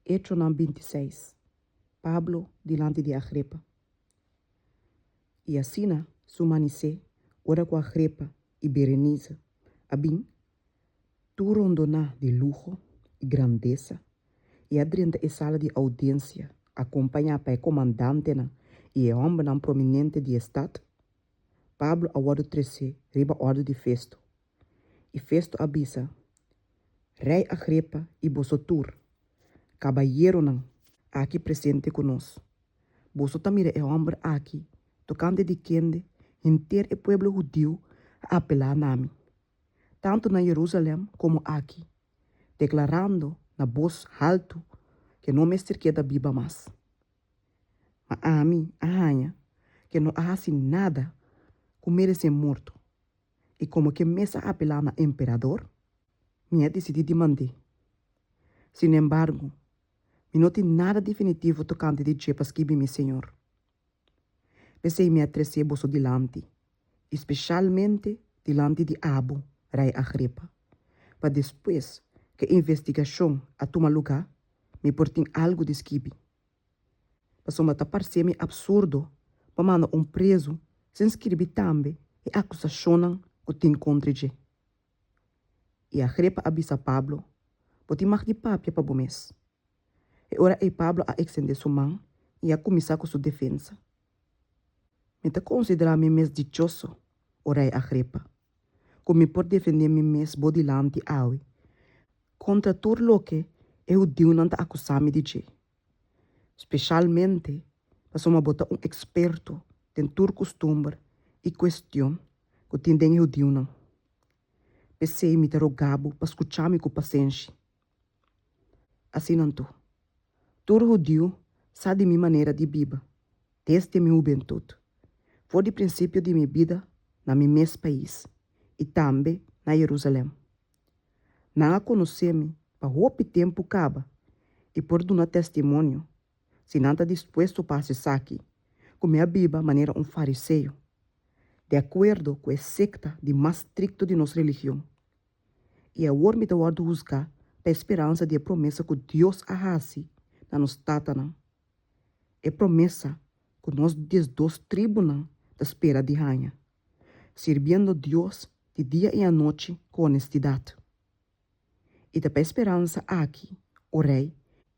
Hechonan binti i seis, Pablo dilanti di Agripa. I asina su manisé ora ku Agripa i Berenise a bin, tur rondoná di luho i grandesa, i a drenta e sala di oudiensia akompañá pa e komandantenan i e hòmbernan prominente di e stat, Pablo a wòrdu tresé riba òrdu di Festo I Festo a bisa, Rei Agripa i boso tur, kabayeronan aki presente ku nos, boso ta mira e hòmber aki tokante di kende henter e pueblo hudiu a apelá na mi, tantu na Yerusalèm komo aki, deklarando na bos haltu ke no mester keda biba mas. Ma ami a haña ke no a hasi nada ku meresé morto. I komo ke mes a apelá na emperador, mi a disidí di mand'é. Sinembargo, mi no tin nada definitivo tokante di dje pa skibi mi señor. P'esei mi a tres'é boso dilanti, i spesialmente dilanti di abo, rei Agripa, pa despues ku e investigashon a tuma lugá, mi por tin algu di skibi. Pasobra ta parcemi absurdo pa manda un prezu sin skirbi tambe e akusashonnan ku tin kontra dje. I Agrepa a bisa Pablo, Bo tin mag di papia pa bo mes. E ora ei Pablo a eksendé su man i a kuminsá ku su defensa, Mi ta konsiderá mi mes dichoso, o rei Agrepa. ku mi por defendé mi mes bo dilanti awe kontra tur loke e hudiunan ta akusá mi di dje, speshalmente pasobra bo ta un eksperto den tur kustumber i kuestion ku tin den e hudiunan. P'esei mi ta rogá bo pa skuchá mi ku pasenshi. Asinan tur, tur hudiu sa di mi manera di biba desdi mi hubentut, for di prinsipio di mi bida na mi mes pais i tambe na Jerusalem. Nan a konosé mi pa hopi tempu kaba i por duna testimonio si nan ta dispuesto pa hasi esaki, ku mi a biba manera un fariseo, de akuerdo ku e sekta di mas strikto di nos religion. I awor mi ta wòrdu husgá pa e speransa di e promesa ku Dios a hasi na nos tatanan, e promesa ku nos diesdos tribunan ta spera di haña, sirbiendo Dios di dia i anochi ku onestidat. I ta pa e speransa aki, o Rei,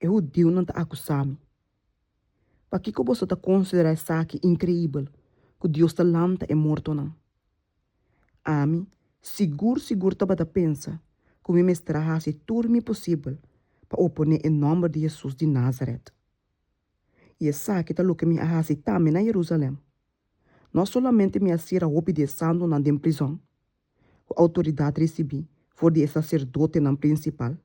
e hudiunan ta akusami, Pakiko boso ta konsiderá esaki inkreibel ku Dios ta lanta e mortonan? Ami sigur sigur tabata pensa ku mi mester a hasi tur mi posibel pa oponé e nòmber di Hesus di Názarèt. I esaki ta loke mi a hasi tambe na Herúsalèm. No solamente mi a sira hopi di e santunan den prizòn, ku outoridat risibí for di e saserdotenan prinsipal,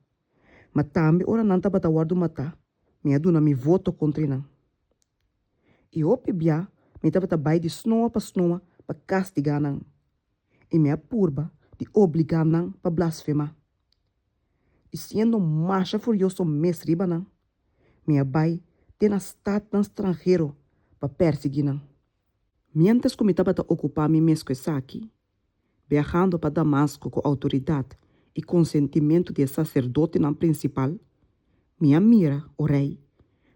ma tambe ora nan tabata wòrdu matá, mi a duna mi voto kontra nan. I hopi bia mi tabata bai di snoa pa snoa pa kastigá nan, i mi a purba di obligá nan pa blasfemá. I siendo masha furioso mes riba nan, mi a bai te na statnan stranhero pa pèrsiguí nan. Miéntras ku mi tabata okupá mi mes ku esaki, biahando pa Damasco cu autoridad y consentimento di e sacerdotenan principal, mi a mira, o rey,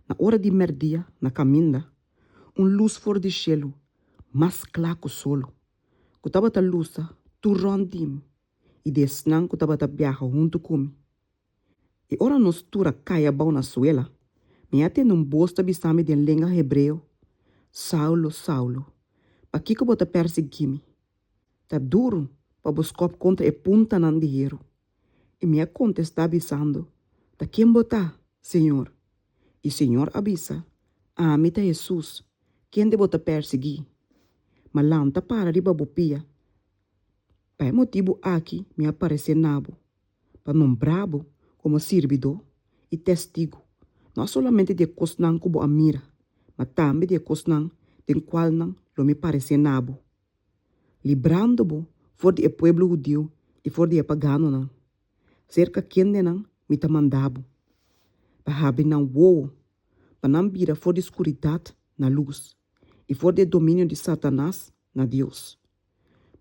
na ora di merdia na caminda, un luz for di cielo, mas cla cu solo, cu tabata lusa tur rond di mi y di esnan cu tabata biaha hunto cu mi. I ora nos tur a kaya bou na suela, mi a tende un bos ta bisami den lenga hebreo, Saulo, Saulo, pakiko bo ta pèrsiguí mi? Ta duru pa bo skòp kontra e puntanan di heru. I mi a kontestá bisando, Ta ken bo ta, Señor? I Señor a bisa, Ami ta Hesus, kende bo ta pèrsiguí. Ma lanta para riba bo pia, pa e motibu aki mi a paresé na bo. pa nombra bo komo sirbidó i Testigu, no a solamente di e kosnan ku bo a mira, ma tambe di e kosnan den kual nan lo mi paresé na bo, librando bo for di e pueblo hudiu i for di e paganonan, serka kendenan mi ta manda bo, pa habri nan wowo, pa nan bira for di skuridat na lus i for di e dominio di Satanas na Dios.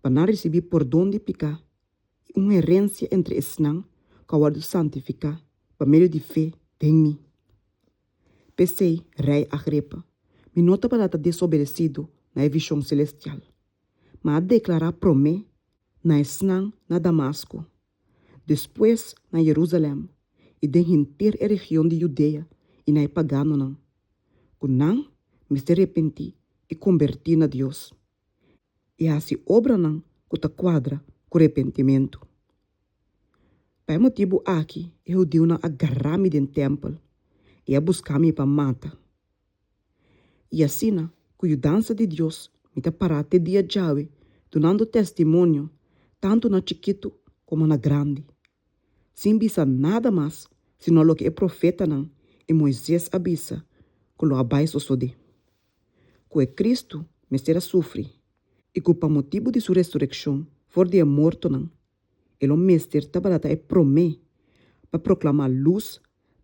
pa nan risibí pordon di piká i un herensia entre esnan ku a wòrdu santifiká pa medio di fe den mi. P'esei, rei Agripa, mi no tabata ta desobedesidu na e vishon selestial, ma a deklará promé na esnan na Damasku, despues na Jerusalen i den henter e region di Judea i na e paganonan, ku nan mester repentí i kombertí na Dios. i hasi obranan ku ta kuadra ku repentimentu. Pa e motibu aki e hudiunan a gará mi den tèmpel i a buska mi pa mata. I asina ku yudansa di Dios mi ta pará te dia djawe dunando testimonio tantu na chikitu komo na grandi, sin bisa nada mas sino loke e profetanan i Moises a bisa ku lo a bai sosodé. ku e Kristu mester a sufri i ku pa motibu di su resurekshon for di e mortonan e lo mester tabata ta e promé pa proklamá lus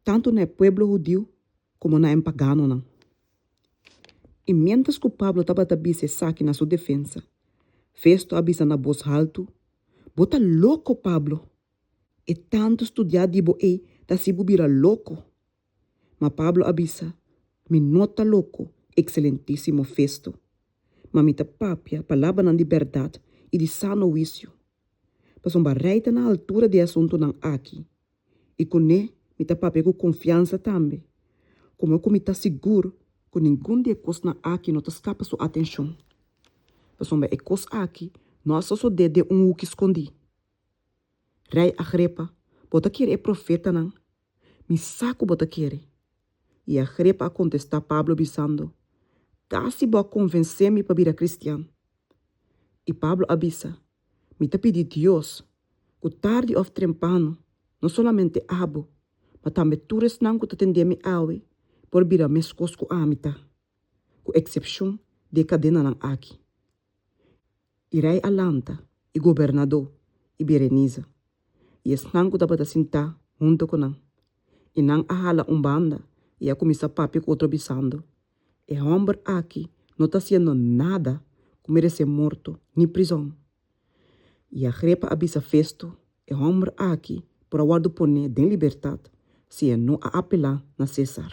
tantu na e pueblo hudiu komo na e paganonan. I miéntras ku Pablo tabata bisa esaki na su defensa, Festo a bisa na bos haltu, Bo ta loko, Pablo! E tantu studiá di bo ei ta hasi bo bira loko. Ma Pablo a bisa, Mi no ta loko, ekselentísimo Festo, ma mi ta papia palabranan di bèrdat i di sano huisio. Pasobra rei ta na altura di e asuntunan aki, i kuné mi ta papia ku konfiansa tambe, komo ku mi ta sigur ku ningun di e kosnan aki no ta skapa su atenshon. Pasobra e kos aki no a sosodé den un huki skondí. Rei Agrepa, bo ta kere e profetanan Mi sa ku bo ta kere. I Agrepa a kontestá Pablo bisando, Kasi bo a konvensé mi pa bira kristian. I Pablo a bisa, Mi ta pidi Dios ku tardi òf trempano no solamente abo, ma tambe tur esnan ku ta tendé mi awe por bira meskos ku ami ta, ku eksepshon di e kadenanan aki. i rei a lanta, i gobernadó, i Bereniza, i esnan ku tabata sintá huntu ku nan. I nan a hala un banda i a kuminsá papia ku otro bisando, E hòmber aki no ta hasiendo nada ku meresé morto ni prizòn. I Agrepa a bisa Festo, E hòmber aki por a wòrdu poné den libertat si e no a apelá na Sésar.